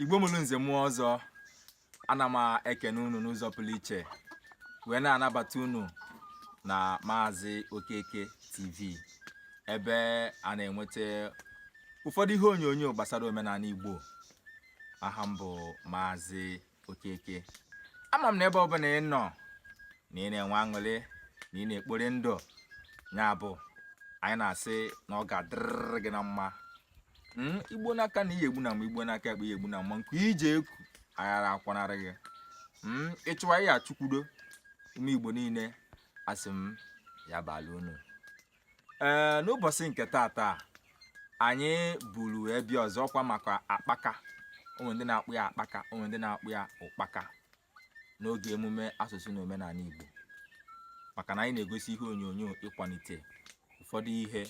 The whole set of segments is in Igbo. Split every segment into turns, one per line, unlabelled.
igbo mụrụ nze mụọ ọzọ ana m ekene unu n'ụzọ pụrụ iche wee na-anabata unu na maazị okeke tv ebe a na-enweta ụfọdụ ihe onyonyo gbasara omenani igbo aha m bụ maazị okeke ama m na ebe ọbụla ị nọ na ị na-enwe aṅụrị na ị na-ekpori ndụ ya bụ anyị na-asị na ọ ga-adịrịrị gị na mma hmm, i gbo n'aka nni ihe egbuna mgbe i gbo n'aka ekpe ihe egbuna ma nke i ji eko aghara akwanarị gị hmm, ị chụwa ihe achụkwudo ụmụ igbo niine asị m ya bala unu ee eh, n'ụbọsị nke taata anyị buru ebi ọzọ ọkwa maka akpaka o nwee ndị na-akpọ ya akpaka o nwee ndị na-akpọ ya ụkpaka n'oge emume asụsụ na omenala Igbo maka na anyị na-egosi ihe onyonyo ịkwalite ụfọdụ ihe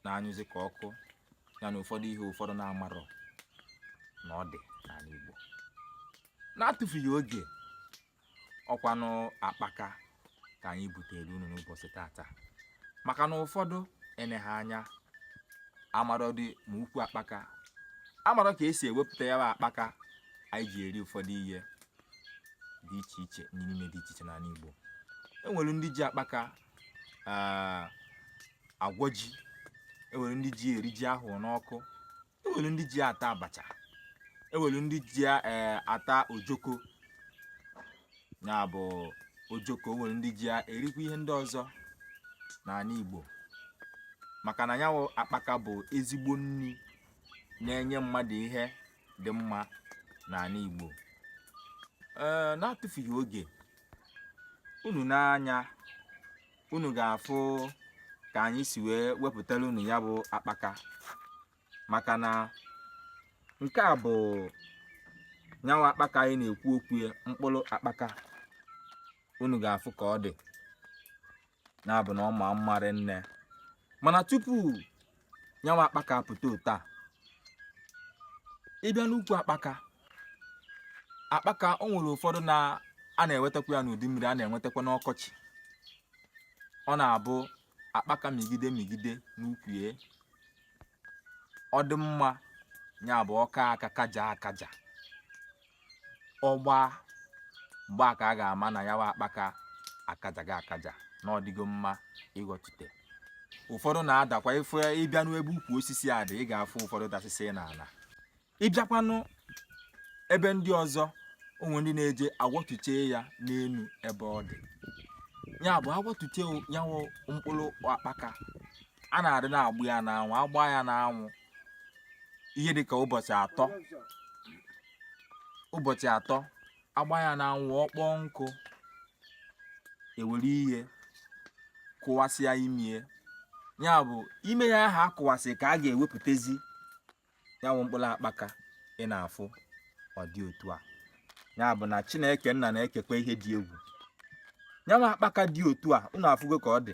na-anyụzi ka ọkụ ya na ụfọdụ ihe ụfọdụ na-amarọ na ọ dị n'ala Igbo na-atụfughị oge ọkwanụ akpaka ka anyị butere unu n'ụbọsị taata maka na ụfọdụ eneghị anya amarọdị ma ukwu akpaka amarọ ka e si ewepụta ya bụ akpaka anyị ji eri ụfọdụ ihe dị iche iche erimeri dị iche iche n'ala Igbo enwere ndị ji akpaka agwọ ji enwere ndị ji eri ji ahụ n'ọkụ enwere ndị ji ya ata abacha enwere ndị ji eh, ata ojoko ya bụ ojoko enwere ndị ji ya erikwa ihe ndị ọzọ n'ani Igbo maka na nya wụ akpaka bụ ezigbo nni na-enye mmadụ ihe dị mma n'ani Igbo ee eh, na-atụfughị oge unu nee anya unu ga-afụ ka anyị si wee wepụtara unu ya bụ akpaka maka na nke a bụ nya wụ akpaka anyị na-ekwu okwu ya mkpụrụ akpaka unu ga-afụ ka ọ dị nya bụ na ọ ma mma rinne mana tupu nya wụ akpaka apụta otu a ị bịa n'ukwu akpaka akpaka o nwere ụfọdụ na a na-enwetakwa ya n'udu mmiri a na-enwetakwa n'ọkọchị ọ na-abụ akpaka mịgide mịgide n'ukwu ya ọ dị mma ya bụ ọ kaa aka kajaa akaja ọ gbaa mgbe a ka a ga-ama na nya wụ akpaka akajago akaja na ọ dịgo mma ịghọtute ụfọdụ na-adakwa ife ị bịa n'ebe ukwu osisi a dị ị ga-afụ ụfọdụ dasịsị n'ana ị bịakwanụ ebe ndị ọzọ o nwee ndị na-eje aghọtuche ya n'enu ebe ọ dị ya bụ a ghọtuche ya wụ mkpụrụ akpaka a na-adị na-agba ya n'anwụ agba ya n'anwụ ihe dịka ụbọchị atọ ụbọchị atọ agba ya n'anwụ ọ kpọọ nkụ ewere ihe kụwasịa imie ya bụ ime ya ahụ akụwasị ka a ga-ewepụtazi ya bụ mkpụrụ akpaka ị na-afụ ọ dị otu a ya bụ na chineke nna na-ekekwa ihe dị egwu ya bụ akpaka dị otu a unu afụgo ka ọ dị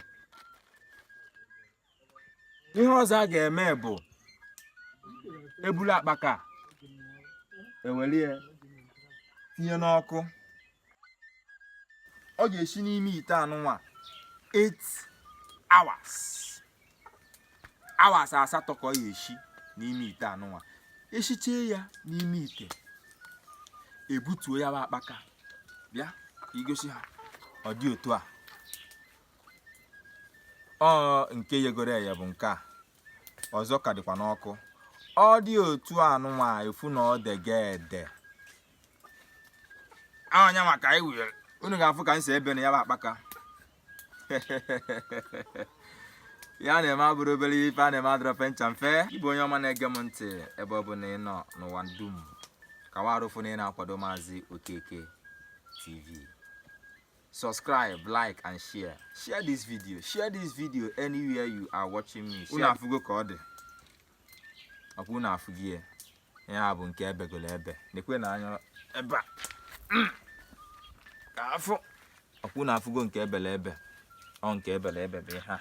ihe ọzọ a ga-eme bụ ebulu akpaka ewere ya tinye n'ọkụ ọ ga-esi n'ime ite anụnwa 8 hours hours asatọ ka ọ ga-esi n'ime ite anụnwa esichie ya n'ime ite ebutuo ya bụ akpaka bịa igosi ha ọ dị otu a ọ nke yegoro eye bụ nke a ọzọ ka dịkwa n'ọkụ ọ dị otu anụnwa ị fụ na ọ dege ede anya maka anyị were unu ga-afụ ka m si ebe na ya bụ akpaka ya na-eme abụrọ obere ife a na-eme adịrọ fecha mfe ị bụ onye ọma na-ege m ntị ebe ọbụna ị nọ n'ụwa dum ka warụ fụ na ị na-akwado maazị okeke tv subscribe like and share share this video share this video anywhere you are watching me unu afụgo ka ọ dị ọkwa unu afụgo ya ya bụ nke ebegolo ebe nekwenụ anya ebe a ka afụ ọkwa unu afụgo nke ebele ebe ọ nke ebele ebe bụ ihe a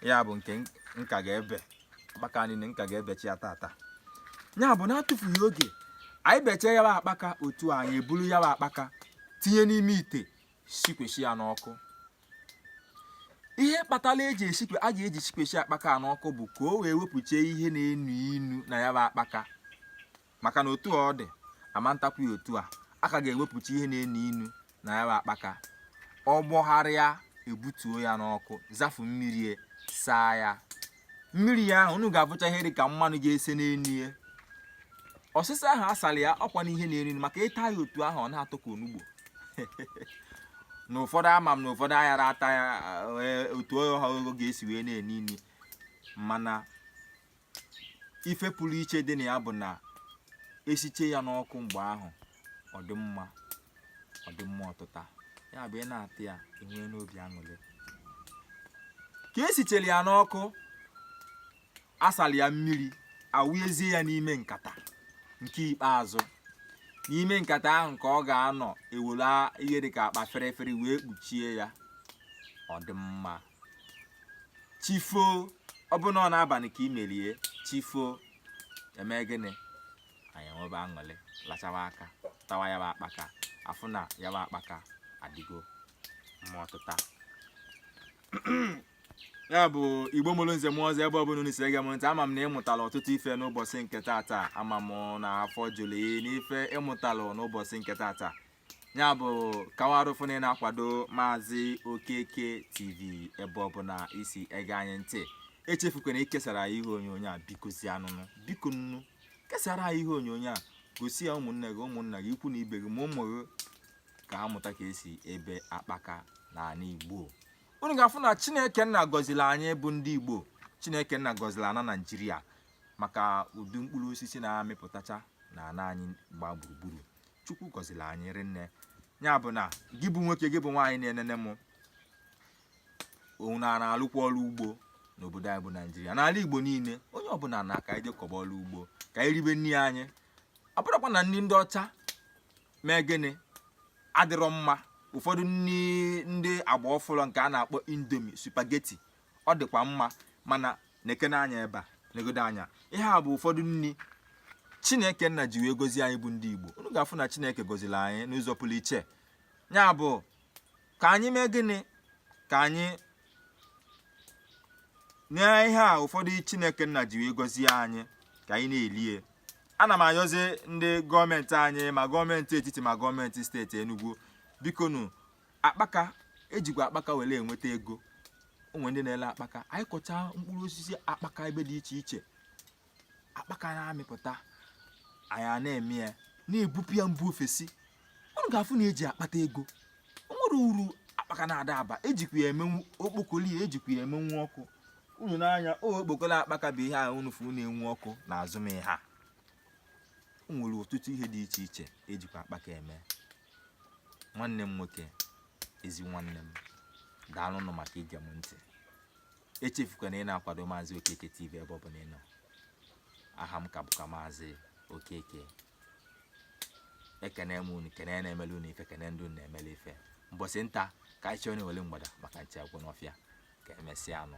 ya bụ nke m ka ga-ebe akpaka niile m ka ga-ebechi ya tata ya bụ na-atụfughị oge anyị bechaa ya bụ akpaka otu a anyị eburu ya bụ akpaka tinye n'ime ite sikwesi ya n'ọkụ ihe kpatara eji esikwe a ga-eji sikwesi akpaka n'ọkụ bụ ka o wee wepụchie ihe na-enu inu na ya bụ akpaka maka na otu ọ dị ama ntakwu ya otu a a ka ga-ewepụcha ihe na-enu inu na ya bụ akpaka ọ gbọgharịa ebutuo ya n'ọkụ zafu mmiri e, saa ya mmiri ya ahụ unu ga-afụcha ihe dị ka mmanụ ga-ese n'enu ya ọsịsa ahụ asali ya ọkwa n'ihe na-enu maka ịta ya otu ahụ ọ na-atọ ka onugbo na ụfọdụ ama m na ụfọdụ aghara ata ya e, otu ahụ ọ ga-esi wee na-enu inu mana ife pụrụ iche dị na ya bụ na esiche ya n'ọkụ mgbe ahụ ọ dị mma ọ dị mma ọtịta ya bụ ị na-ata ya enwee n'obi aṅụrị ka esichere ya n'ọkụ asali ya mmiri awụezie ya n'ime nkata nke ikpeazụ n'ime nkata ahụ ka ọ ga-anọ ewere ihe dịka akpa ferefere wee kpuchie ya ọ dị mma chi fo ọ bụrụ na ọ n'abalị ka i mere ya chi fo eme gịnị anyị enwebe aṅụrị lachawa aka tawa ya bụ akpaka afụ na ya bụ akpaka adịgo mma ọtịta ya bụ igbo mụrụ nze mụọ ọzọ ebe ọbụla unu si ege m ntị ama m na ịmụtala ọtụtụ ife n'ụbọchị nke tata ama m na afọ juru gị n'ife ịmụtalụ n'ụbọchị nke tata ya bụ gawarụ ifu na ị na-akwado maazị okeke tv ebe ọbụla i si ege anyị ntị echefukwana ikesara anyị ihe onyonyo a bikozianụ nụ bikonụ kesara anyị ihe onyonyo a gosi ya ụmụnne gị ụmụnna gị ikwu na ibe gị ma ụmụ gị ka ha mụta ka esi ebe akpaka n'ala igbo unu ga-afụ na chineke nna gọziri anyị bụ ndị igbo chineke nna gọziri ana naijiria maka ụdị mkpụrụ osisi na-amịpụtacha n'ana anyị gbaa gburugburu chukwu gọziri anyị rinne ya bụ na gị bụ nwoke gị bụ nwaanyị na-enene m unu a na-alụkwa ọrụ ugbo n'obodo anyị bụ naijiria n'ala igbo niile onye ọbụla na ka anyị jee kọba ọrụ ugbo ka anyị ribe nri anyị ọ bụrọkwa na nri ndị ọcha mee gịnị adịrọ mma ụfọdụ ndị agba ọfụrụ nke a na-akpọ indomie spaghetti ọ dịkwa mma mana nekene anya ebe a negodo anya ihe a bụ ụfọdụ nri chineke nna ji wee gozie anyị bụ ndị igbo unu ga-afụ na chineke gọziri anyị n'ụzọ pụrụ iche ya bụ ka anyị mee gịnị ka anyị nye ihe a ụfọdụ chineke nna ji wee gozie anyị ka anyị na-elie ana m ayọzi ndị gọọmenti anyị ma gọọmenti etiti ma gọọmenti steeti Enugu bikonụ akpaka ejikwa akpaka were enweta ego o nwere ndị na-ele akpaka anyị kọcha mkpụrụ osisi akpaka ebe dị iche iche akpaka na-amịpụta anyị a na-eme ya na-ebupụ ya mba ofesi unu ga-afụ na eji akpata ego o nwere uru akpaka na-ada aba ejikwa ya emenwu okpokolo ya ejikwa ya emenwu ọkụ unu nee anya o okpokolo akpaka bụ ihe a unu fụ na-enwu ọkụ n'azụ m ihe a o nwere ọtụtụ ihe dị iche iche ejikwa akpaka eme nwanne m nwoke ezi nwanne m daalụ nụ maka ige m ntị echefukwana ị na-akwado maazị okeke tv ebe ọ bụla ị nọ aha m ka bụkwa maazị okeke ekene m unu kene na-emele unu ife kene ndị unu na-emele ife mbọsị nta ka anyị chụọ n'owele mgbada maka nchi agwụ n'ọfịa ka emesịa nụ